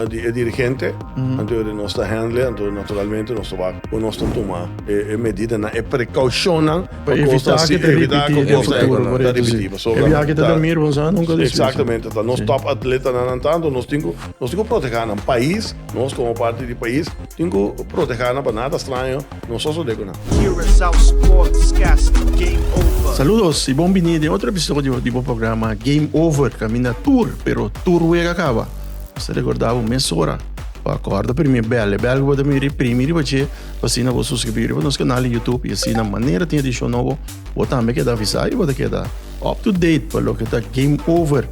di e dirigente, anto di nos ta handle, anto naturalmente nos ta wak ku nos ta tuma e medidanan, e prekoushonnan pa kos ta si, pa evitá ku kos ta ripití. Pasobra, ta, E biaha ke ta durmi riba un sa, nunka ta esplíka. Eksaktamente. Ta nos top atletanan an tantu nos tin ku, nos tin ku protehá nan. Pais, nos komo parti di pais, tin ku protehá nan pa nada straño. No so so deko nan. Curaçao Sportscast Game Over. Saludos y bon biní den otro episodio di bo programa Game Over. Caminda tur, pero tur wega caba. Nos ta recorda bo mes ora pa acorda primi bel. E bel cu bo ta miri primi riba dje pa asina bo suscribí riba nos canal di YouTube y asina manera tin edicion nobo bo tambe keda avisa y bo ta keda up to date pa loke ta Game Over.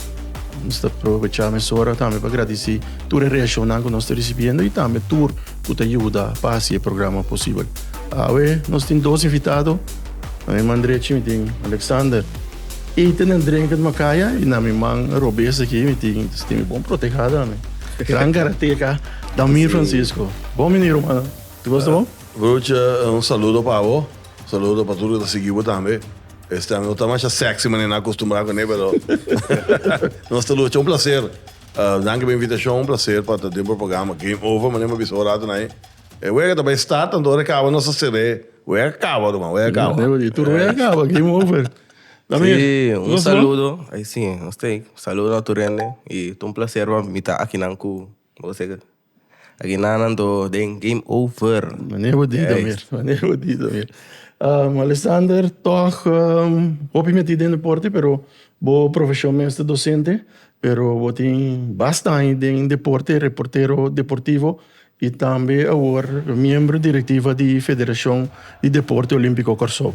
Nos ta probecha mesora tambe pa gradici tur e reaccionnan cu nos ta ricibiendo y tambe tur. cu ta yuda pa haci e programa posibel. Awe nos tin dos invitado, na mi man drechi mi tin Alexander y tenen Drenken Macaya y na mi man robes aki mi tin Stimi Bon Protejada, gran karateka Damir Francisco. Bon bini Romana, ta gosta bo? Ruth, un saludo pa bo, un saludo pa tur cu ta sigui bo tambe. Este año no ta masha sexy manera nos a acostumbrado cu ne pero nos ta lucha. Un placer. Danki pa invitashon, un plaser pa ta den programa Game Over. Manera mi a bisa horato na e wega ta bai start, anto ora e kaba nos a ser'é. Wega kaba, ruman, wega kaba. Tur wega kaba, Game Over. Ta bien. Sí, un saludo. Ay sí, nos ta ei. Un saludo na tur hende. I ta un plaser pa mi ta akinan ku boso. Aguinana do den game over. Mane bo di Damir, mane bo di Damir. Um, Alexander, tog um, hopi meti den deporte pero bo profesion mester docente, pero bo tin basta aña den deporte, reportero deportivo y tambe awor miembro directiva di Federacion di Deporte Olimpico Corsou.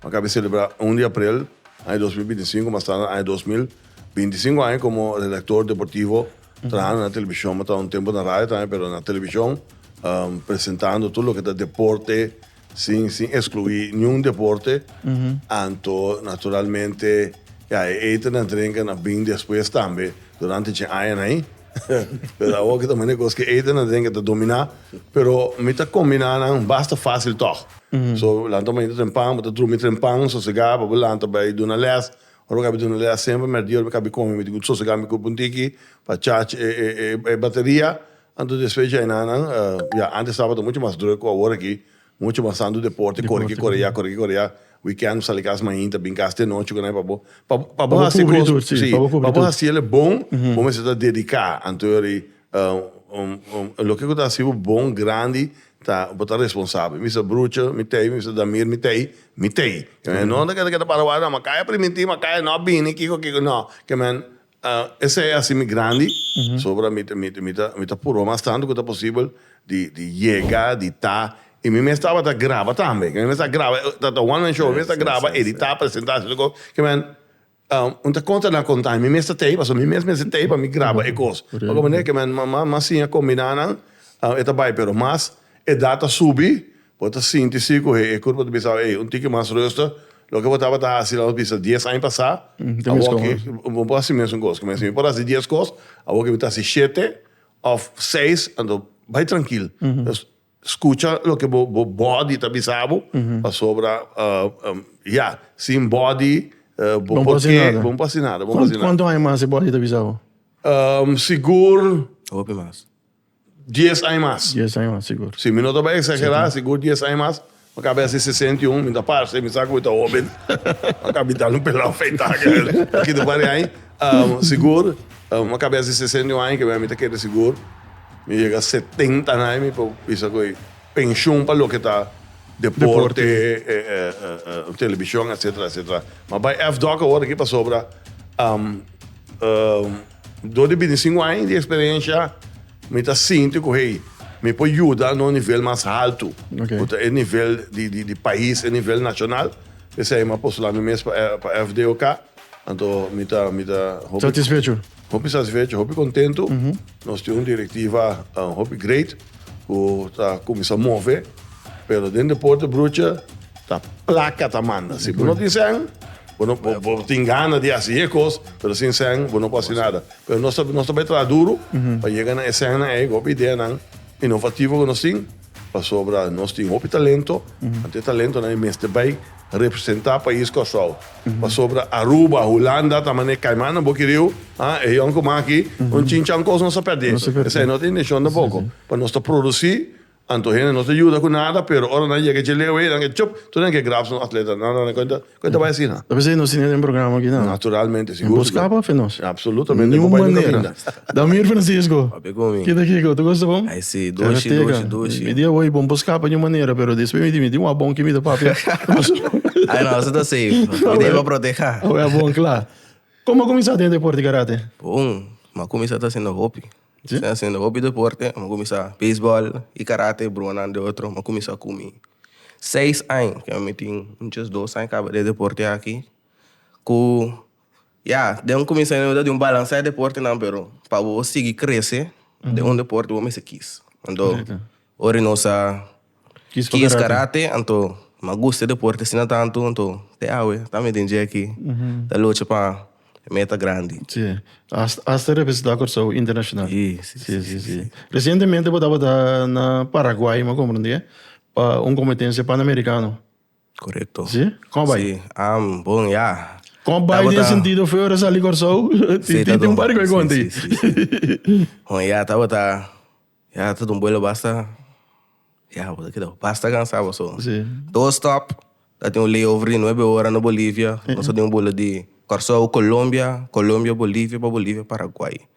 Bo a kabe selebrá un di aprel, aña dos mil binti sinku, mas tarde aña dos mil binti sinku aña komo redaktor deportivo trahando na televishon. Bo ta un tempu na radio tambe, pero na televishon presentando tur loke ta deporte sin sin ekskluí niun deporte. Anto naturalmente ya e eten en drenken a bini despues tambe durante dje añanan ahi. Pero awor ke ta mane kos ke Eden a den ke ta dominá, pero mi ta kombiná nan basta fásil tòg. So, lanta mañana ta tren pan, bo ta drumi tren pan sosegá, bo a por lanta bai duna lès. Ora bo kabe duna lès semper mèrdiora mi kabe kome, mi tin good sosegá mi kup un tiki pa charge e e e e bateria. Anto despues dje nan, ya, ántes sábado ta muchu mas drùk ku awor aki. Mucha bansando deporte, kore ki kore ya, kore ki kore ya. Weekend bo sa di kas mainta, a bin kas di anochi ku nai pa bo. Pa bo, pa bo hasi kos, si, pa bo hasi el e bon, bo mester ta dediká. Anto yori, loke ku ta hasi bo bon, grandi, ta, bo ta responsabel. Mi sa brucha, mi tei, mi sa Damir, mi tei, mi tei. Kende no ta keda para wak, no, ma kaya priminti, ma kaya no a bini, kiko, kiko, no. Ke men. Esei a hasi mi grandi, pasobra mi ta mi ta mi ta purba mas tantu ku ta posibel di di yega, di ta. I mi mes tabata graba tambe. Mi mes a graba, ta ta one man show, mi mes ta graba, editá, presentá, hasi tur kos. Kiman mi ta konta nan konta, i mi mes ta tei, pasobra mi mes mester tei pa mi graba e kos. Ora ku manera kiman mama, mama siña kombiná nan, e ta bai. Pero mas edat a subi, bo ta sinti si ku e kurpa ta bisa, ey, un tiki mas ruster. Loke bo tabata hasi lalos bisa dies aña pasá, awoke bo por hasi mesun kos. Kumesa, mi por hasi dies kos, awoke mi ta hasi shete òf seis. Anto bai trankil. Skucha loke bo bòdi ta bisa bo, pasobra, ya, sin bòdi bo por ke bo no por hasi nada. Bo no por hasi nada. Kuantu aña mas e bòdi ta bisa bo? Sigur. Hopi mas. dies aña mas. Dies aña mas, sigur. Si, mi no ta bai eksagerá, sigur dies aña mas, mi ta hasi sesenta i un, mi ta parse, mi sa ku mi ta hóben, mi ta bita un pelá afeitá, aki ta bari ai, sigur, mi ta hasi sesenta i un aña, kebei mi ta kere sigur, mi yega setenta aña mi por bisa ku e penshon pa loke ta deporte, televishon, etsetera, etsetera. Mi a bai èf dòk awor aki pasobra. Dor di bintisingu aña di eksperensia, mi ta sinti ku hey, mi por yuda na un nivel mas haltu, ku ta e nivel di pais, e nivel nashonal. P'esei mi a postulá mi mes pa FDOK. Anto mi ta hopi satisfecho, hopi kontentu. Nos tin un direktiva hopi great. ku ta kuminsá move, pero den deporte brucha ta plaka ta manda. Si bo no tin sèn, bo no bo tin gana di hasi e kos, pero sin sèn bo no por hasi nada. Pero nos ta nos ta bai traha duru pa yega na e sènnan ei, hopi ideanan inovativo ku nos tin, pasobra nos tin hopi talento, anto e talentonan ei mester bai representá pais Kòrsou. Pasobra Aruba, Hulanda ta manera caimannan boki riu, ha, e hion cu maki, un chinchan cos nos a perdi. Esei no ta intencion tampoco. Pasobra nos ta produci, anto hende no ta yuda cu nada, pero ora nan yega dje leu ei, nan ke chup, tur nan ke grab nos atletanan. Nan naran, Con e ta bai asina? Ta bisa di nos tin e den programa aki? Naturalmente, sigur su ta. Bo scapa afe nos? Absolutamente, bo bai nunca binda. Damir Francisco, Papia cu mi. Kita Kiko, tu gosta bon? Ay si, dushi, dushi, dushi. Mi dia hoy bon por scapa di un manera, pero despues mi di mi tin wak bon ki mi ta papia. Ay no, su ta safe. Mi debe proteha. Awe a bon cla. Como a cuminsa den deporte karate? Bon, mi a cuminsa ta haciendo hopi. Si? Mi a haciendo hopi deporte. Mi a cuminsa baseball y karate, bruhonan de otro. Mi a cuminsa cu mi seis aña, cu mi tin un djesdos aña caba den deporte aki, cu. Ya, den un kuminsio eno ta di un balans'é deportenan, pero pa bo sigui krese den un deporte bo mester kis. Anto Correcto. ora nos a Kis pa kis karate. karate, anto m'a gusta e deporte asina tantu, anto te awe ta mi den dje aki ta lucha pa e meta grandi. Sí. Has- Hasta representá Kòrsou internashonal. Sí, sí, sí, sí, sí. Resientemente bo tabata na Paraguay, m'ha komprendé, pa un kompetensia panamerikano. Korekto. Sí, kòm a bai? Sí, am bon ya. Kòm a bai den e sentido fe ora sali Kòrsou? Tin tin tin un par di kos e konti. Sí, sí, sí, sí. Bon ya tabata, ya ta dun buelo basta, ya bo ta keda bo basta kansa boso. Sí. Dos stòp, ta tin un layover di nuebe ora na Bolivia, nos a den un buelo di Kòrsou, Kolombia, Kolombia, Bolivia, pa Bolivia, Paraguai.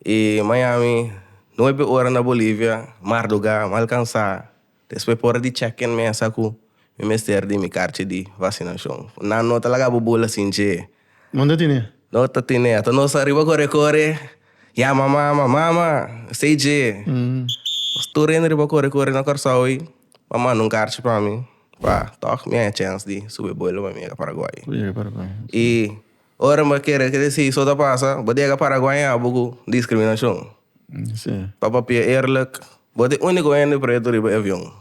E Miami, nuebe ora na Bolivia, mar dogá, mal kansá, Despues pa ora di check-in mesa cu mi mester di mi carchi di vacinacion. Nan no ta laga bo bula sin dje. No ta tine. No ta tine. Ato nos ariba core core yama mama, mama stay dje. Nos tur hende riba core core na Corsou ey. Pa manda un carchi pa mi pa toch mi haya chens di subi bula pa mi yega Paraguay. Cu yega Paraguay. Y Ora bo kere deci so ta pasa, bo diega para guaña abo cu discriminacion. Pa papia eerlijk, bo ta e unico hende preto riba e avion.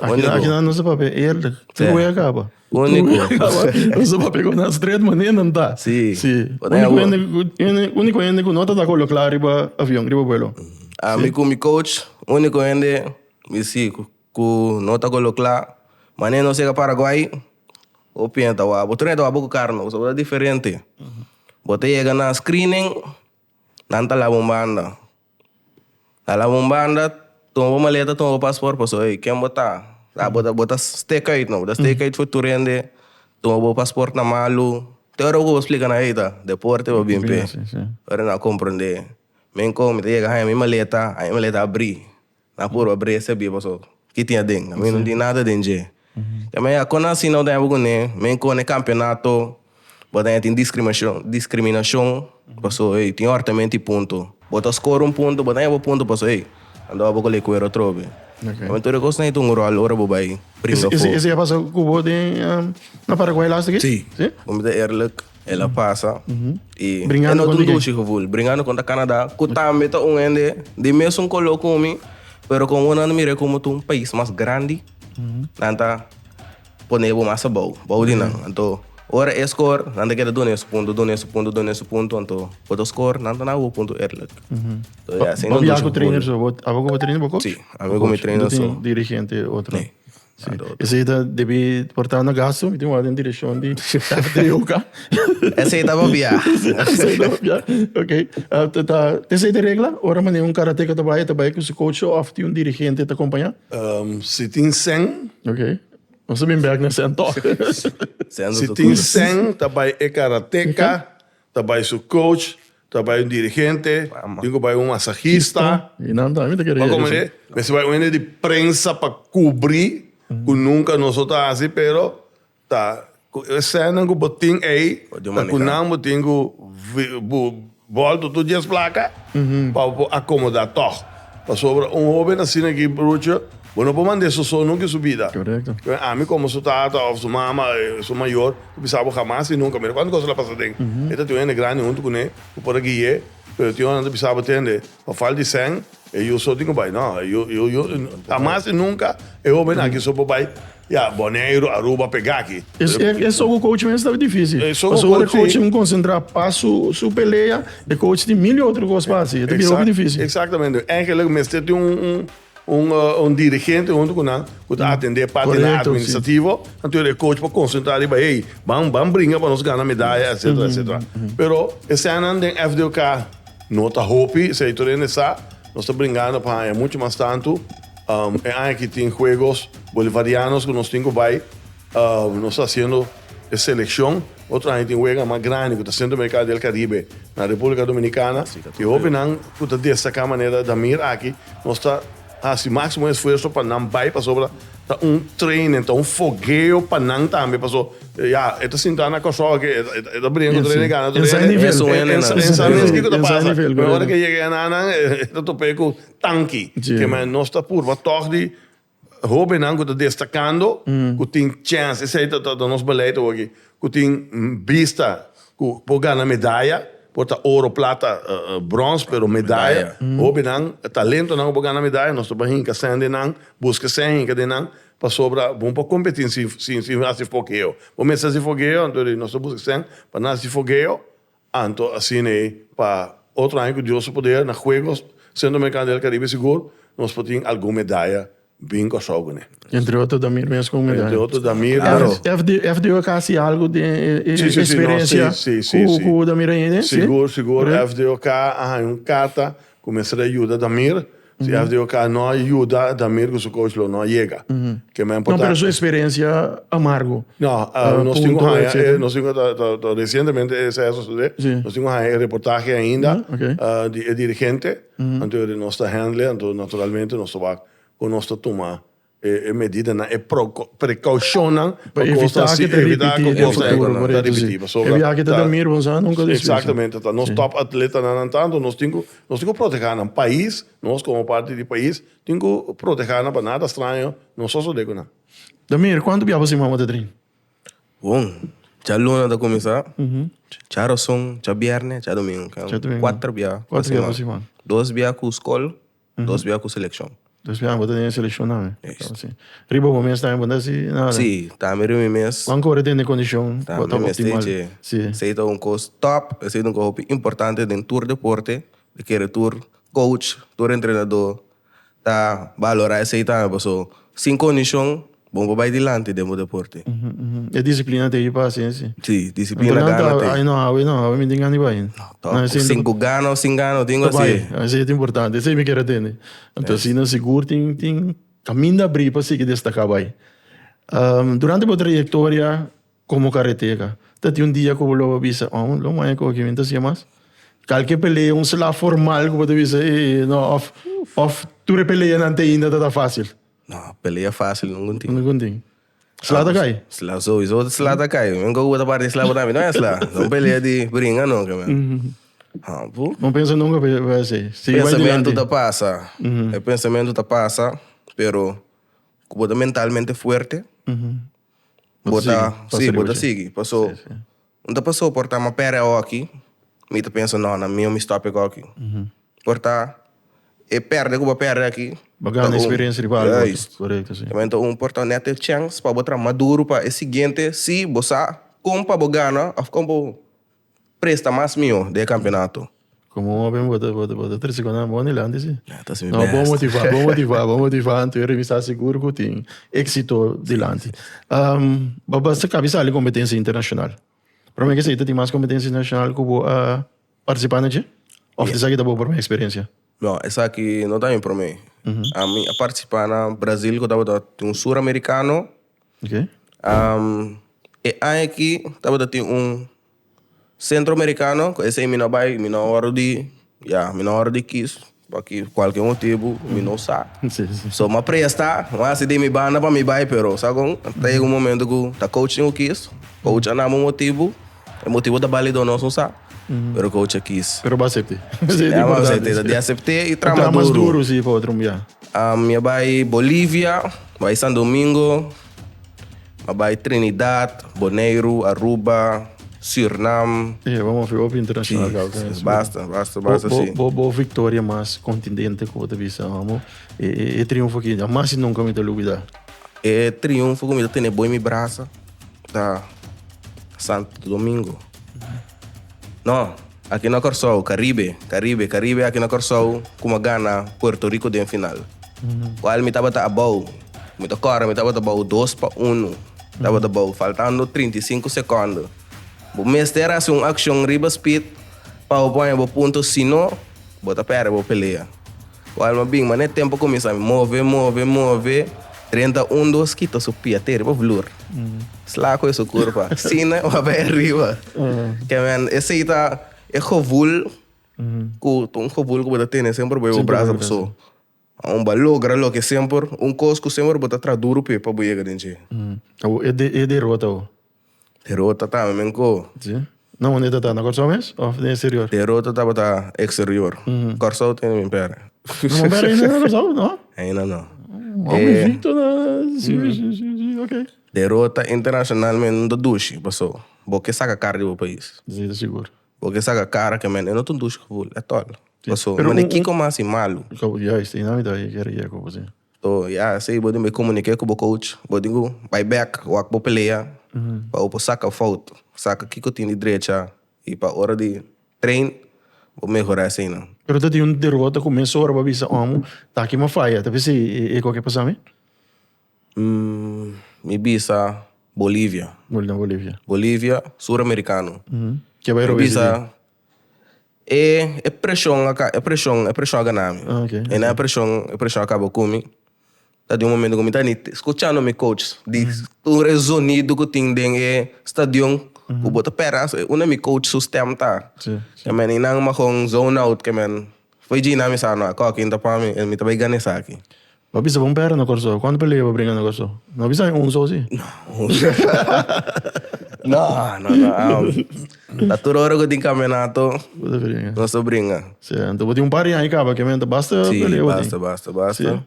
Akinan nos ta papia eerlijk. Tur wea caba. Unico. Nos ta papia cu na straight manera nan ta. Unico hende cu no ta taco locla riba avion, riba vuelo. Ami cu mi coach, unico hende mi si cu. Ku no ta golo kla. Mane nos yega Paraguay, bo piensa ta wak. Bo tur ne ta wak bo ku kar no, pasobra bo ta diferente. Bo ta yega na screening, nan ta laba un banda. Nan laba un banda, tuma bo maleta, tuma bo pasport, pasobra ey, ken bo ta? Sa bo ta, bo ta stake uit no, bo ta stake uit for tur hende. Tuma bo pasport na malu. Te ora ku bo splika nan ey ta deporte bo a bin p'e, ora nan a komprond'e. Men kon, mi ta yega haña mi maleta, haña mi maleta a bri. Na por pa brea sabia paso ki tin aden. Mi no tin nada den dje. Te me ya kon asina bo ta yapo kuné, men kon e kampionato bo ta ya tin diskrimashon, diskriminashon paso ey tin or ta menti punto. Bo ta skora un punto bo ta yapo punto paso ey a dor bo kole kuer otrobe. Oke. Tur e kos na tin un rol ora bo bai bringa fo. Ese ese ya paso ku bo den na Paraguay laster ki? Si. Si? Bo mi ta erlek. El a pasa y e no tin dushi gevoel, bringando contra Canada, cu tambe ta un hende di mesun color cu mi, pero con awor nan a mira como ta un pais mas grandi, nan ta pone abo mas abao, bao di nan. Anto, ora e score, nan ta keda dun'e su punto, dun'e su punto, dun'e su punto, anto bo ta score, nan ta na abo punto eerlijk. So ya, asina no dushi gevoel. Bo biaha cu trainer so, bo coach? Si, ami cu mi trainer so. No tin dirigente otro? Nee. Sí. Esei ta debi por ta na gasto, mi tin wak den direkshon di FDOK. Esei ta papia. Esei ta papia, ok. Ta, esei ta regla, ora manera un karateka ta bai, e ta bai ku su coach òf tin un dirigente ta kompañá? Si tin sèn. Ok. Nos ta bin bèk na sèn tòg. Si tin sèn ta bai e karateka, ta bai su coach, Ta bai un dirigente, tin cu bai un masajista, pa comenzá mester bai un hende di prensa pa cubrí cu nunca noso ta haci, pero ta cu e scènanan cu bo tin ey, ta cu nan bo tin cu bolto tur dies placa pa bo por acomodá tog. Pasobra un hoben asina aki brucho, bo no por mand'é soso nunca en su bida. Ami como su tata of su mama, su mayor. Ku bisa bo hamas i nunka. Mira kuantu kos el a pasa den. E ta tin un hende grandi huntu ku ne ku por a guie, pero tin ora nan ta bisa bo tende, pa fal di sèn, e yu so tin ku bai. No, e yu, yu, hamas i nunka e hoben aki so por bai, ya, Boneiru, Aruba, pega aki. E sogu coach men staba difísil. Pasobra ora e coach tin ku konsentrá pa su, su pelea, e coach tin mil i otro kos pa hasi. E ta bira hopi difísil. Exactamente. Engelik mester tin un, Un un dirigente hunto cu nan cu ta atende e partenan administrativo, anto e coach por concentra riba hey, ban ban bringa pa nos gana medaya etcetera etcetera. Pero escenanan den FDOK no ta hopi, esey tur hende sa, nos ta bringando pa haya mucho mas tanto. E aña aki tin juegos bolivarianos cu nos tin cu bay. Nos ta hasiendo e seleccion. Otro aña tin wega mas grandi cu ta Centro America del Caribe na Republica Dominicana. E hopinan cu ta destaca manera Damir aki, nos ta haci maximo esfuerzo pa nan bay pasobra ta un training, ta un fogueo pa nan tambe. Paso ya, e ta sinta na Kòrsou aki, e ta brinca cu Rene Gana tur hende. E sa mes kico ta pasa. Pero ora ke e yega ya na nan, e ta top'é cu tanki. Kema, nos ta purba tog di Hobennan ku ta destakando, ku tin chèns, esei ta ta nos beleid awo'aki, ku tin bista ku por gana medaya, por ta oro, plata, brons, pero medaya, hobennan, talentonan ku por gana medaya, nos ta por hinka sèn den nan, buska sèn hinka den nan, pasobra bo no por kompetí sin sin hasi fokeo. Bo mester hasi fokeo, anto di nos ta buska sèn pa nan hasi fokeo. Anto asina ei pa otro aña cu Dios su poder na Juegos Centroamericano del Caribe sigur nos por tin algun medaya bin Kòrsou cu ne. Entre otro Damir mes cu un medaya. Entre otro Damir aro. FDO a kasi algo den e experiencia cu Damir a hende? Sigur sigur FDO a haña un carta cu mester a yuda Damir. Si F di oca no a yuda Damir cu su coach lo no a yega. Ke mas importante. No, pero su experiencia amargo. No, nos tin cu haya e, nos tin cu ta, ta, ta recientemente e sa sucede. Si. Nos tin cu haya e reportahe ainda. Ya, ok. Di e dirigente. Anto nos ta handle, anto naturalmente nos ta wak cu nos ta tuma. e medidanan, e precaucionnan pa cosnan asi, pa evita cu cosnan aki no ta repiti. Pasobra ta, exactamente, ta nos top atletanan nan tanto, nos tin cu, nos tin cu proteha nan. Pais, nos como parti di pais, tin cu proteha nan pa nada straño no sosode cu nan. Damir, cuantu biaha bo stima bo ta train? Bon, cha luna ta cuminsa, cha rason, cha bierne, cha domingo. Cuatro biaha pa siman. Dos biaha cu scol. Dos bia ku selekshon. Dos bia bo ta den selekshon tambe. Yes. Riba bo mes tambe bo ta hasi nada? Si, tambe riba mi mes. Wan kore tende kondishon ku a ta optimal? Tambe mester dje. Esei ta un kos tòp. Esei ta un kos hopi importante den tur deporte. Bo kere tur kouch, tur entrenadó ta balorá esei tambe pasobra sin kondishon Bon pa bai dilanti den bo deporte. E disiplina te yu pa hasi esei. Si, disiplina, gana te yu. Nan ta hawe, no hawe, no hawe, mi tin gana di bai. Tò, sin ku gana o sin gana, no tin ku hasi e. Ta bai, esei ta importante. Esei mi kier a tende. Anto asina sigur tin, tin kaminda abrí pa sigui destaká bai. Durante bo trayektoria komo karateka, ta tin un dia ku bo lo bisa, oh, lo maya ku aki mi no ta hasi e mas. Kalke pelea, un sla formal ku bo ta bisa, ey, no, òf, òf tur e peleanan te ainda tabata fásil. No, pelea fácil nungun tin. Nungun tin. Sla ta kai? Sla sowieso sla ta kai. Men ku bo ta parti sla parámi no e sla. No un pelea di bringa no ke men. Hapu. No pensa nunka pa e así. Sigui bai durianti. Pensamentu ta pasa. E pensamentu ta pasa pero ku bo ta mentalmente fuerte bo ta sigui bo ta sigui. Paso N ta pa soportá ma pere oki mi ta pensa no na mihó mi stòp ek oki por ta e perde ku bo a perde aki Bo ta gana un eksperensia riba algu ya is Korekto si. kimente un por ta nèt e chèns pa bo tra maduru pa e siguiente si bo sa kon pa bo gana òf kon pa bo presta mas mihó den e kampionato. Como un hombre bota bota bota triste cuando amo adelante sí. Ja, ta si mi No, best. bon motiva, bon motiva, bon motiva. Anto e revista seguro cu tin éxito delante. Um, ba basta cabi sali competencia internacional. Pero me que sei, tin mas competencia internacional cu bo a participa na dje? Of Yeah. esaki ta bo primer experiencia? No, esaki no ta mi prome. A mi a participa na Brazil cu tabata tin un suramericano. Okay. Um, e aña aki tabata tin un Centro Americano cu esey mi no bay mi no ora di ya mi no ora di kies pakiy cualkier motibu mi no sa so mi a presta mi a haci den mi banda pa mi bay pero sa con ta yega un momento cu ta coach tin cu kies coach a nama un motibu e motibu ta bali door nos un sa pero coach a kies pero bo a cepte esey ta importante esey ta importante di a cepte y traha mas duro traha mas duro si pa otro ya mi a bay Bolivia bay San Domingo. A bai Trinidad, Boneiru, Aruba, Sürnam. Ey, bo mofi hopi internacional gauw den esei. Basta, basta, basta si. Bo, bo, bo victoria mas contundente cu bo ta bisa, amo, e, e, e triunfo aki jamas y nunca mi ta lubida. E triunfo cu mi ta tene bo en mi brasa ta Santo Domingo. No, aki no Corsou, Caribe, Caribe, Caribe aki no Corsou kuma gana Puerto Rico den final. Cual mi tabata abou, mi ta corre mi tabata abou dos pa uno tabata abou faltando trinta i sinku secondo. Bo mester haci un accion riba Speed pa bo pone bo punto sino bo ta perde bo pelea. Wal m'a bin, ma n'e tempu kuminsá mi move, move, move. Renta un dos kita su pia te riba vloer. Sla kohe su kurpa. Sina wak bai ariba. Ke men, esei ta e gevul ku, ta un gevul ku bo ta tene semper boe bo brasa paso bo bai logra loke semper, un kos ku semper bo ta traha duru p'e pa bo yega den dje. E derota bo? Pero ta tama men ko. Si. Na unda e ta ta? Na Kòrsou mes òf den eksterior? Pero ta tabata eksterior. Kòrsou ta hende Minpere. No, Minpere ainda no na Kòrsou, no? Ainda no. Bo Egipto na si, si, si, si, ok. Pero ta internashonal men, no ta dushi, paso bo ke saka kara di bo pais. Si, ta sigur. Bo ke saka kara ke men e no ta dushi ku bul, e tòl. Paso, mane kiko mas i malu? Juist, i nan mi ta bai kere yeko, bo si. So ya esei bo tin bay comunique cu bo coach, bo tin cu bay back, wak bo pelea pa bo por saca fout, saca kico tin di drecha y pa ora di train bo mehora esey nan. Pero ta tin un derrota cu mes ora bo bisa omo ta aki mi a faya, tal vez e eko a ke pasa mi? Umm, mi bisa Bolivia. Bolivia. Bolivia, Suramericano. Ke bay robes ey tin? Mi bisa E e preshon a ka e preshon e preshon a gana mi Ah, oké, e na e preshon e preshon a kaba ku mi ta di un momento ku mi ta ni te- skuchando mi coach di tur e zonido ku tin den e stadion ku bo ta pera so una mi coach su stèm ta Sí, sí. kemen i nan mahon zone out kemen Poi Gina mi sa, no, koki inta pa mi, mi ta bai gana esaki. Papi staba un pera na Kòrsou. Kuantu pelea bo bringa na Kòrsou? No bisa mi un sosi. No, no, no, am. Ta tur ora ku tin kaminato. Bo ta bringa. Nos ta bringa. Si, anto bo tin un par di aña kaba kiamen ta basta pelea bo tin. Si, basta, basta, basta.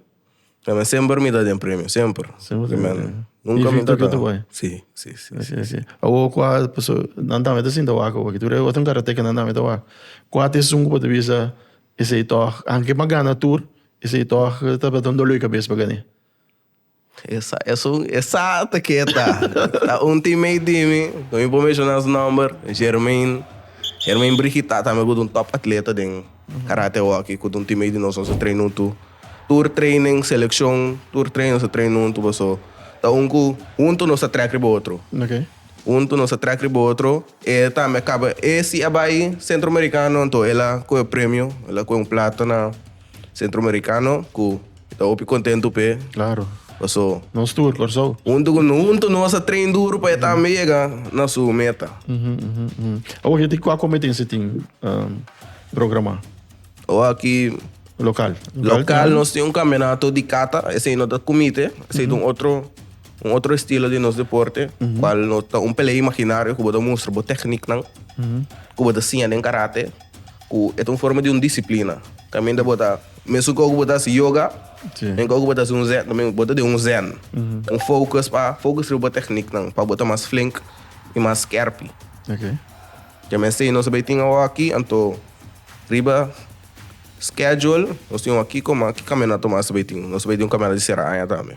Na mi semper mi ta den premio, semper. Semper tem premio. Nunca mi ta Invicto kitu bai. Si, si, si. Si, si, si. Awo kua paso, nan tambe ta sinta wak awo, ki tur e otro karateka nan tambe ta wak. Kua ta esun ku bo ta bisa esei tòg, aunke bo a gana tur, esei tòg tabata un dolor di kabes pa Gané? Esa, esun, esa ta keta. Ta un teammate di mi, no mi por menshona su nòmber, Germain. Germain Brigitá tambe ku ta un tòp atleta den. Karate Hockey ku ta un timei di nos nos a traina huntu tur training selekshon tur training nos a traina huntu paso ta un ku huntu nos ta trèk riba otro huntu nos ta trèk riba otro e tambe a kaba e si a bai Sentro Amerikano anto el a kohe un premio el a kohe un plata na Sentro Amerikano ku. I ta hopi contentu p'e. Claro. Paso. Nos tur, Corsou. Huntu cu no huntu nos a train duru pa e tambe yega na su meta. Awo aki cua competencia tin programa? Awo aki. Local. Local nos tin un campeonato di kata. Esey no ta kumite. Esey ta un otro, un otro estilo di nos deporte. Cual no ta un pelea imaginario cu bo ta mustra bo technieknan. Cu bo ta siña den karate. Cu e ta un forma di un disciplina. Caminda bo ta, mesun cu oco bo ta haci yoga, den cu oco bo ta haci un zen también, bo ta den un zen. Un focus pa, focus riba bo technieknan, pa bo ta mas flink y mas skerpi. Oké. Te mester nos a bay tin awo aki, anto riba schedule nos tin awo aki, coma ki caminata nos a bay tin? Nos a bay tin un caminata di Sierra Aña tambe.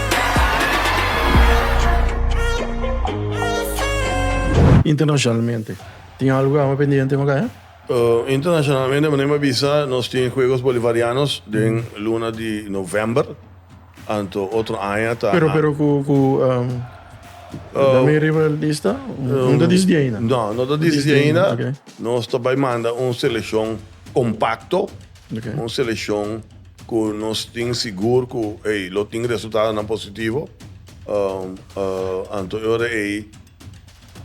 Internacionalmente tin algo awa pendiente no Gaia? Internacionalmente bo neba bisa nos tin Juegos Bolivarianos den luna di november anto otro aña ta Pero pero cu cu da mi riba el lista no ta disdi ainda? No no ta disdi ainda nos ta bay manda un seleccion compacto un seleccion Ku nos tin sigur ku ei lo tin resultadonan positivo, anto e ora ei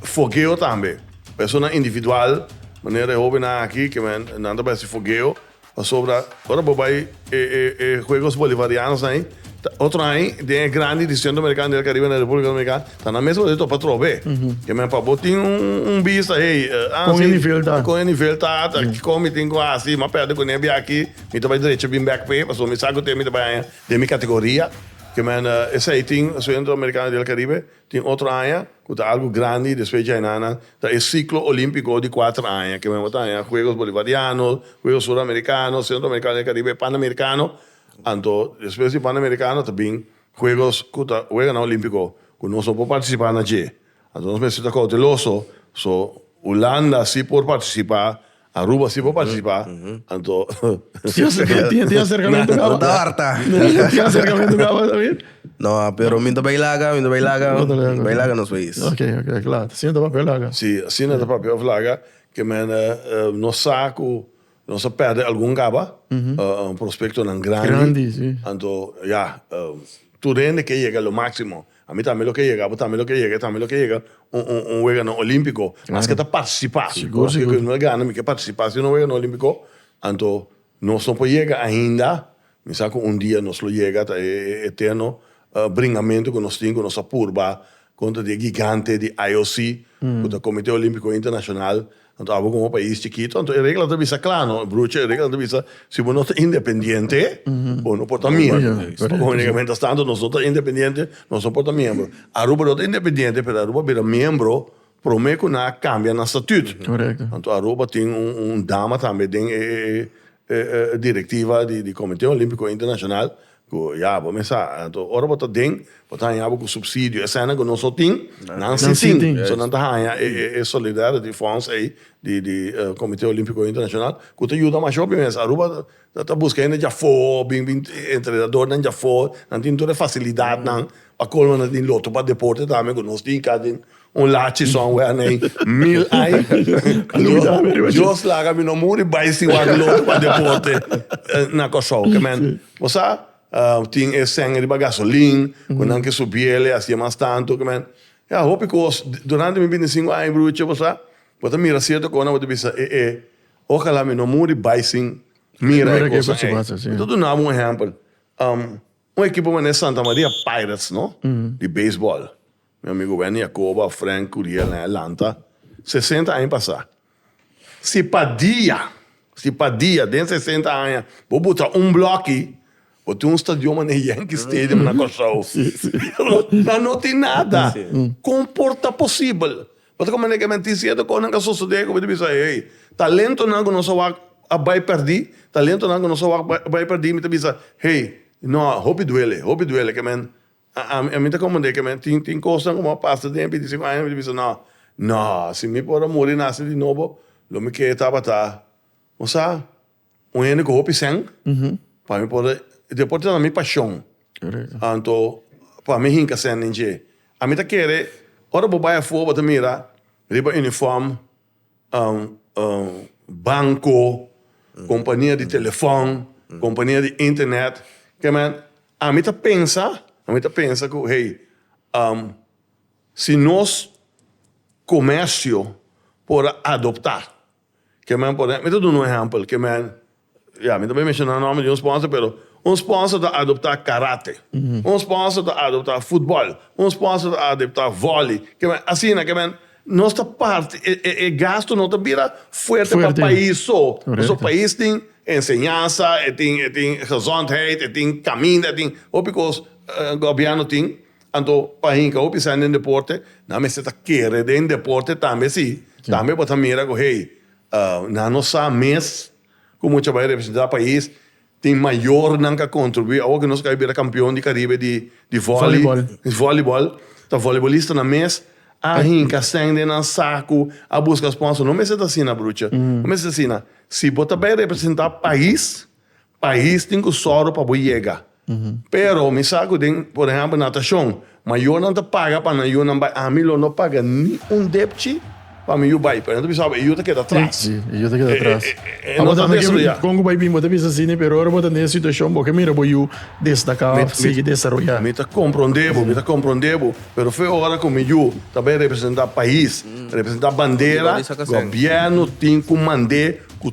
fogeo tambe. Persona individual, manera e hobennan aki ke nan ta bai hasi fogeo, pasobra ora bo bai e Juegos Bolivarianosnan ei ta otro aña den e grandi di Centro Americano y del Caribe na Republica Dominicana. Ta na mes base topa trobe. Ke men pa bo tin un bista hey ah kon e nivel ta kon e nivel ta ta kiko mi tin ku hasi ma perde kuné biaki mi ta bai drecho bin bek p'e paso mi sa kute mi ta bai haña den mi kategoria ke men esei tin centro americano del caribe tin otro haña ku ta algu grandi despues djai nan nan ta e ciclo olimpico di kuater haña ke men bo ta haña juegos bolivariano juegos sur americano centro americano del caribe pan americano anto despues di pan americano ta bin Huegos ku ta wega na Olímpiko ku nos no por partisipá na dje. Anto nos mester ta kouteloso. So, Hulanda sí por partisipá. Aruba sí por partisipá. Anto, tin tin aserkamentu kaba. Ta hòrta. Tin aserkamentu kaba ta bin. No, pero mi ta bai laga, mi ta bai laga. Mi ta bai laga. Bai laga nos pais. Ok, ok, kla. Asina ta papia laga. Sí, asina ta papia òf laga. Ke mene nos sa ku. Nos a perde algun gaba, prospectonan grandi, anto ya, tur hende ke yega lo maximo, ami tambe lo ke yega, abo tambe lo ke yega, e tambe lo ke yega un weganan olimpico, mas ke ta participa, pasobra ke nos a gana mi ke participa si un weganan olimpico, anto nos no por yega ainda Mi sa ku un dia nos lo yega ta e eterno bringamentu ku nos tin ku nos a purba kontra di e gigante di IOC ku ta Komite Olimpiko Internashonal. Anto abo komo pais chikitu, anto e regla ta bisa kla no, brucha, e regla ta bisa si bo no ta independiente bo no por ta miembro. Única miéntras tantu nos no ta independiente nos no por ta miembro. Aruba no ta independiente pero Aruba a bira miembro promé ku nan a kambia nan statut. Anto Aruba tin un dama tambe den e E directiva di Comité Olimpico Internacional cu ya bo mesa anto ora bo ta den bo ta haña bo cu subsidio esena cu nos no tin nan si tin so nan ta haña e solidarity funds ey di di Comité Olimpico Internacional cu ta yuda masho pi mes Aruba ta busca hende djafoor bin bin entrenadornan djafoor nan tin tur e facilidadnan pa colmo nan tin loto pa deporte tambe cu nos tin ca den Un lachi son wea nei mil ai. Dios laga mi no muri bai sin wak loto pa deporte na Kòrsou. Ke men bo sa tin e sèn riba gasolin ku nan ke subiel e hasié mas tantu. Ke men ya hopi kos. Durante mi bintisingu aña bruchi bo sa bo ta mira sierto kos nan bo ta bisa e e okala mi no muri bai sin mira e kosa ei. Mi ta duna bo un ehèmpel. Un ekipo mané Santa Maria Pirates no di beisbòl. Mi amigo Wendy a koba Frank Curiel na e lanta sesenta aña pasá. Si pa dia, si pa dia den sesenta aña bo botá un blòki, bo tin un stadion manera Yankee Stadium na Kòrsou. Pero nan no tin nada. Kon por ta posibel? Bo ta komente ke men tin sierto kos nan ku a sosodé ku bo ta bisa, hey, talentonan ku nos a wak a bai pèrdí, talentonan ku nos a wak a bai pèrdí. Mi ta bisa, hey, no, hopi duele, hopi duele ke men. Ami ta comprende ke men tin cosnan cu bo a pasa den e binticinco aña, mi ta bisa, no, no, si mi por a muri y nace di nobo, lo mi kier tabata bo sa, un hende cu hopi seng, pa mi por a, deporte ta na mi pasion, anto pa mi hinca seng den dje. Ami ta kere, ora bo bay afuer bo ta mira riba uniform. banco, compania di telefon, compania di internet, ke men, ami ta pensa, ami ta pensa cu hey, si nos comercio por a adopta, ke men, por, mi ta duna un ehempel, ke men. Ya, mi ta bin menshoná nòmber di un spònser, pero un spònser ta adoptá karate, un spònser ta adoptá futbòl, un spònser ta adoptá vòli, ke men, asina ke men, nos ta parti, e, e, e gastu no ta bira fuerte pa pais so, pasobra pais tin enseñansa, e tin, e tin gezondheid, e tin kaminda, e tin hopi kos, gobièrnu tin, anto pa hinka hopi esei den deporte, nan mester ta kere den deporte tambe sí, tambe bo ta mira ku hey. Na nos sa mes cu mucha bay representa pais. Tin mayor nan ca contribui. Awo cu nos a bira campeon di Caribe di volleyball, ta voleibolistanan mes a hinca seng den nan sacu, a busca sponsor. No mester ta asina, brucha. No mester ta asina. Si bo ta bay representa pais, Pais tin cu soro pa bo yega. Pero mi sa cu den, por ehempel, natacion, mayornan ta paga pa nan yu nan bay. Ami lo no paga ni un depchi pa mi yu bay, pero nan ta bisa, e yu ta keda atras. Sí, e yu ta keda atras. E, e, e, e no ta desarrolla. Con cu bay bin bo ta bisa asina, pero ora bo ta den e situacion, bo ke mira bo yu destaca of sigui desaroya. Mi ta comprende bo, mi ta comprende bo, pero fe ora cu mi yu ta bay representa pais, representa bandera, gobierno tin cu mande cu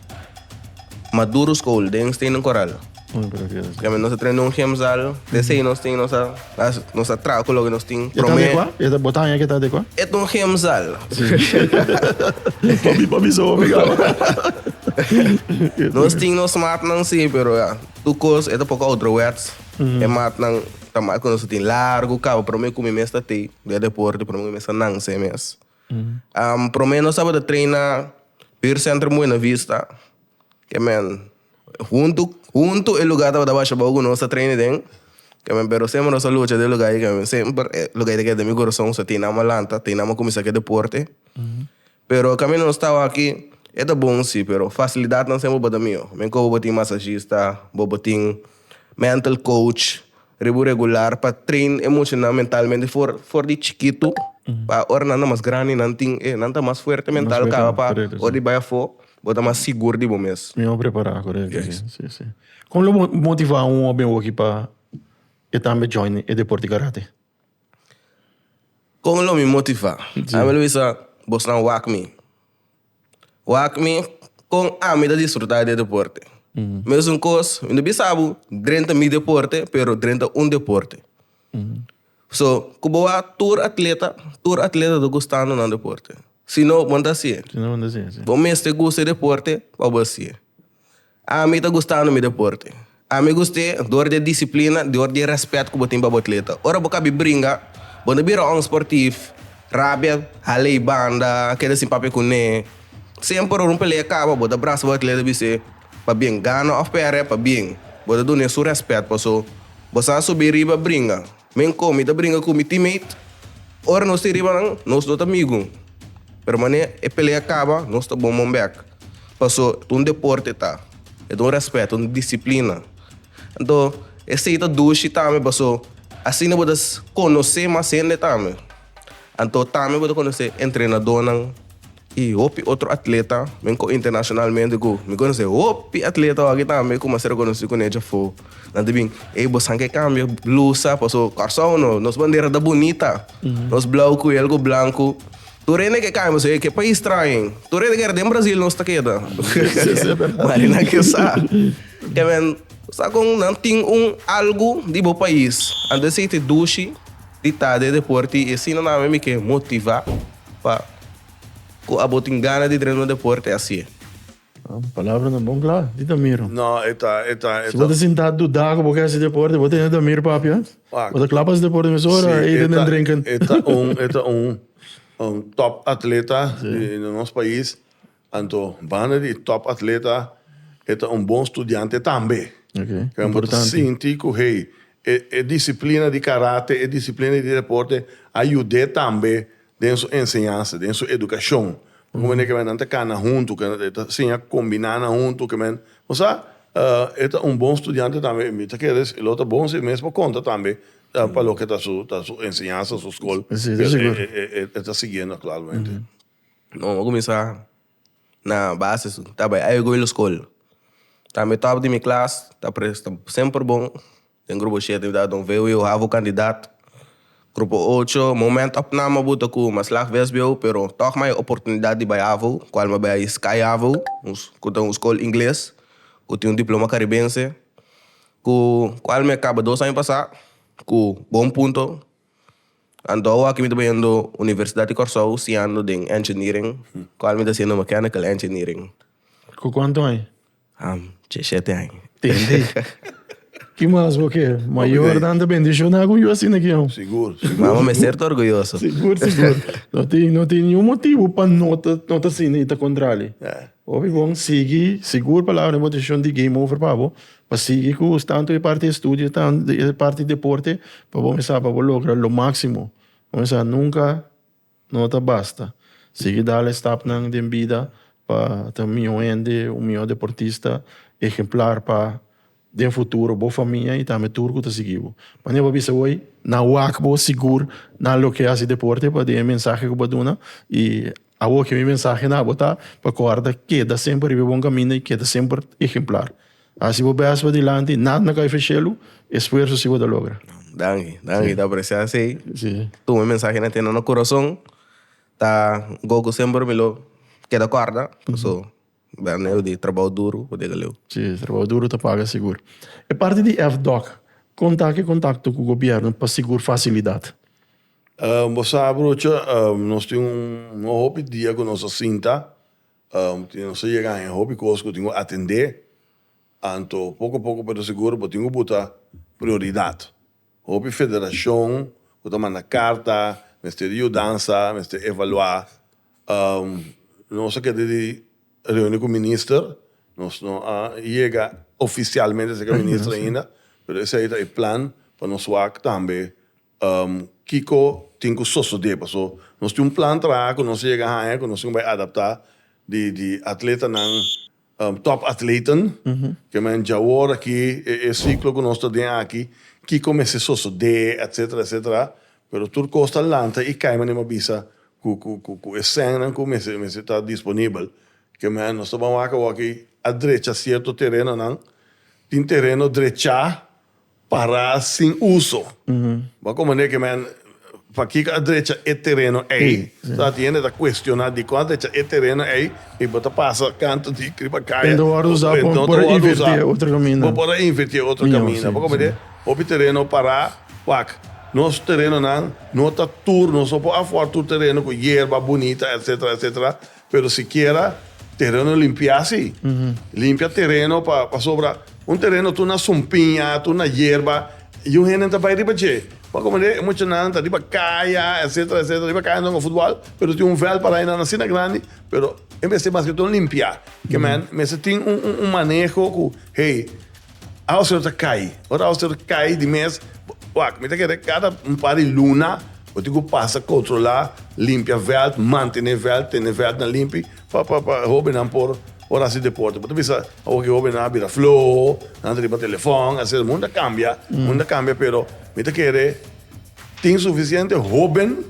Maduro School den Stenen Coral. Porque nos traen un gemzal, desde ahí nos tin, nos a, nos a trago con lo que nos tin. ¿Ya está de cuá? ¿Ya está botado? ¿Ya está de cuá? Es un gemzal. Papi, papi, so, mi gabo. Nos tin, nos maat nan sí, pero ya, tu cos, es un poco ouderwets. Es maat nan, ta maat con nos tin largo, cabo, pero me comí mes ta tei, de deporte, pero me comí mes ta nan, se mes. Promé nos tabata treina Peer Centrum Buena Vista, ke men huntu huntu e lugá tabata bashabou ku nos ta treina den, ke men pero semper nos a lucha den e lugá ei ke men semper e lugá ei ta keda den mi korason so tin nan a lanta tin nan a kuminsá ku e deporte. Pero kaminda nos tabata aki e ta bon si pero fasilidatnan semper tabata mió men ku abo bo tin masashista bo bo tin mental coach. Ribu regular pa train e mochinan mentalmente for for di chikitu pa ora nan ta mas grandi nan tin e nan ta mas fuerte mental fuerte, kaba pa correcto, sí. ora di bai afo bo ta mas sigur di bo mes. Mi a prepará, correcto. Yes. Sí, sí, sí. Con lo mo- motivá un hopi hoki pa e tambe join e deporte di karate? Con lo mi motivá? Sí. Ami lo bisa bosnan wak mi. Wak mi kon ami ta disfruta di e deporte. Mesun kos, mi no bisa bo, dren ta mi deporte, pero dren ta un deporte. So, ku bo wak tur atleta, tur atleta ta gustando nan deporte. Si no, bo no ta hasié. Si no, bo no ta hasié, si. Bo mester gusta e deporte pa bo hasié. Ami ta gustando mi deporte. Ami gust'é dor di e disiplina, dor di e rèspèt ku bo tin pa bo atleta. Ora bo kabi bringa, bo na bira onsportif, rabia hal'ei banda, keda sin papia kuné. Semper ora un pelea kaba, bo ta brasa bo atleta di bis'é, Pabien, gana òf pèrdè, pabien. Bo ta dun'é su rèspèt, paso bo sa subi riba bringa. Men kon mi ta bringa ku mi teammate, ora nos tin riba nan nos no ta migu, pero mané e pelea kaba nos ta bon mombèk, paso e ta un deporte ta, e ta un rèspèt, un disiplina. Anto esei ta dushi tambe paso asina bo ta konosé mas hende tambe. Anto tambe bo ta konosé entrenadónan i hopi otro atleta, men kò internashonalmente ku mi konosé hopi atleta wak tambe ku masha rekonosí kuné djafó. Nan ta bin, Ey, bo san ke kambia blusa paso Kòrsou no, nos bandera ta bunita, nos blau ku i algu blanku. Tur hende ke kambia paso ey ke pais traen. Tur hende keda den Brazil nos ta keda. Mari nan ke sa. Kèmen, bo sa kon nan tin un algu di bo pais. Anto esei te dushi. Di tarde deporte y asina nan mi ke motiva pa cu abo tin gana di drena deporte asie. Palabra nan bon cla di ta miro. No e ta e ta e ta. Si bo ta sinta duda cu bo ke haci deporte bo tene ta mir papi a. Bo ta cla pa haci deporte mesora e ita nan drenken. E ta un e ta un un top atleta di nos pais. Anto banda di e top atleta e ta un bon studiante tambe. Okay. Can bo ta sinti cu hey, e, e disciplina di karate, e disciplina di deporte a yud'é tambe den su enseñansa, den su educacion. Bo ta mira cu nan ta cana huntu, cu nan ta siña combina nan huntu, cu nan, bo sa, e ta un bon studiante tambe. Mi ta kere si lo ta bon si e mes por conta tambe pa loke ta su, ta su enseñansa, su scol, cu e, e, e, e ta siguiendo actualmente. Bo a kuminsá na base su, ta bai ai goi lo skol. Ta mi tòp di mi klas, ta presta semper bon. Den grupo shete mi tabata don VWO havo kandidat. Grupo ocho, momènt òf nan bo buta ku mas lag VSBO pero tòg mai oportunidat di bai havo, kual mi a bai Sky Havo, ku ta un skol ingles ku tin un diploma karibense, ku kual mi a kaba dos aña pasá ku bon punto. Anto awor aki mi ta bañando Universidad di Corsou siando den Engineering, cual mi ta haciendo Mechanical Engineering. Cu cuanto aña? Am, diecisiete aña. Tende. Ki mas bo kier? Mayor nan ta bendiciona cu yu asina aki, no? Sigur, sigur. Mama mester ta orgulloso. Sigur, sigur. No tin, no tin ningun motibu pa no ta, no ta asina y ta contrali. Hopi bon sigui, sigur palabra di motivacion di game over pa bo, Pa sigui cu tanto e parti estudio tanto e parti deporte pa bo mesa pa bo logra lo maximo bo mesa nunca no ta basta sigui dal e stapnan den bida pa ta un miho hende un miho deportista ehemplar pa den futuro bo famia y tambe tur cu ta sigui bo manera cu bo a bisa hoy na wak bo sigur na loke haci deporte paden e mensahe cu bo a duna y Awor ke mi mensahe na bo ta pa kòrda, keda semper riba e bon kaminda i keda semper ehemplar. Hasi bo bèst pa dilanti, nada na kai feshelu, esfuerso si bo ta logra. Danki, danki, ta apresiá esei. Tuma e mensahe na tene na kurason, ta gogo semper mi lo keda kòrda, pasobra. Bel neo di trabao duru ku dega leu. Si, trabao duru ta paga sigur. E parti di FDOC, kon ta ke kontakto ku gobièrnu pa sigur fasilidat? Bo sa brucha, nos tin un hopi dia ku nos a sinta, nos a yega ein hopi kos ku tin ku atendé, anto poko poko pa ta sigur bo tin ku buta prioridat. Hopi federashon ku ta manda karta mester di yudansa, mester evaluá. Nos a keda di reuni ku minister, nos no a yega ofisialmente serka minister ainda, pero esei ta e plan pa nos wak tambe kiko tin ku sosodé. Paso nos tin un plan traha ku nos a yega haña ku nos tin ku bai adaptá di atletanan. Top atleten, ke men dja wor aki, e siklo ku nos ta den aki, kiko mester sosodé, etsetera, etsetera, pero tur kos ta lanta i kai manera mi a bisa ku e sènnan ku mester ta disponibel. Ke men, nos ta ban wak awor aki a drecha sierto terenonan, tin tereno drechá Pará sin uso. Bo como ne ke men, pa kiko a drecha e tereno ei? So aki hende ta cuestioná dikon a drecha e tereno ei i bo ta pasa kantu di riba kaya. Hende wòrdu usá pa bo por a invertié otro kaminda. Bo por a invertié otro kaminda. Bo como ne, hopi tereno pará wak. Nos terenonan no ta tur, nos no por afòr tur tereno ku yerba bunita, etcetera, etcetera. Pero sikiera tereno limpia si. Limpia tereno pa pasobra un tereno tur na sumpiña, tur na yerba i un hende ta bai riba dje. Bo a komende e muchanan ta riba kaya etsetera etsetera riba kaya nan jua futbòl pero tin un vèl para ainan asina grandi pero e mester mas ke todo limpia. Ke men mester tin un un maneho ku hey aos ter ta kai ora aos ter ta kai di mes wak mi ta kere kada un par di luna. Bo tin cu pasa controla, limpia veld, mantene veld, tene veldnan limpi pa pa pa e hobennan por por haci deporte. Bo ta bisa awo cu e hobennan a bira floho, nan ta riba telefon, a ser. Mundo a cambia, mundo a cambia, pero mi ta kere tin suficiente hoben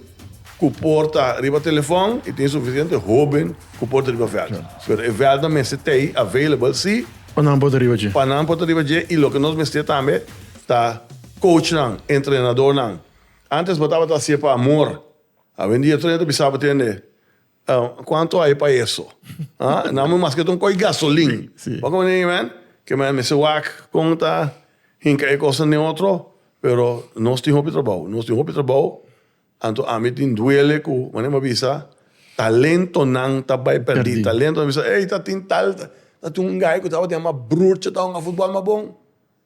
cu por ta riba telefon y tin suficiente hoben cu por ta riba veld. Pero e veldnan mester t'ey available, si, Pa nan por ta riba dje. pa nan por ta riba dje y loke nos mester tambe ta coachnan, entrenadornan. Antes bo tabata haci'e pa amor, awendia tur ya ta bisa bo tende cuanto hay pa eso? Haa? Nan bo maske ta un koi gasolin. Bo komo nei men ke men mester wak kon ta hinka e cosnan den otro, pero nos tin hopi trabao, nos tin hopi trabao, anto ami tin duele cu manera bo a bisa talentonan ta bay perdi, talentonan ta bisa ey ta tin tal, ta tin un guy cu tabata yama Broertje, tabata un a futbal mas bon.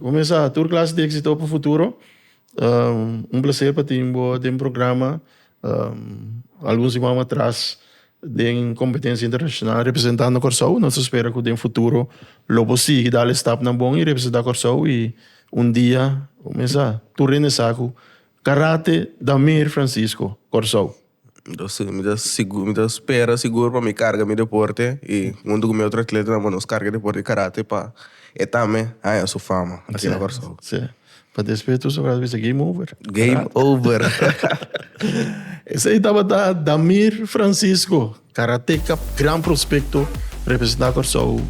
Kumesa tur klas di éksito pa futuro. Un plaser pa tin bo den programa. Algun siman atras den kompetensia internashonal representando Kòrsou. Nos ta spera ku den futuro lo bo sigui dal e stapnan bon i representá Kòrsou i un dia kumesa tur hende sa ku karate da Meir Francisco Kòrsou. Entonces mi ta sigur mi ta spera sigur pa mi carga mi deporte y hunto cu mi otro atletanan pues nos carga e deporte di karate pa e tambe haña su fama aki na Kòrsou. Sier. Pa despide tur soldado bisa game over. Game over. Esei tabata Damir Francisco. Karateka gran prospekto representá Kòrsou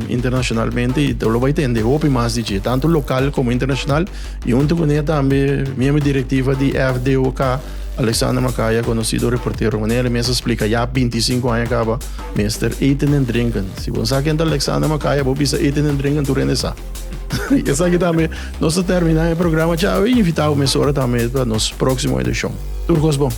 internashonalmente i lo bai tende hopi mas di dje, tantu lokal komo internashonal. I huntu kuné tambe miembro direktiva di FDOK, Alexander Macaya, konosido reportero, manera el mes a splika ya binti i sinku aña kaba mester eten en drenken. Si bo no sa ken ta Alexander Macaya bo bisa eten en drenken tur hende sa. Esaki tambe nos ta terminá e programa ciawe i invitá bo mesora tambe pa nos próksimo edishon. Tur kos bon.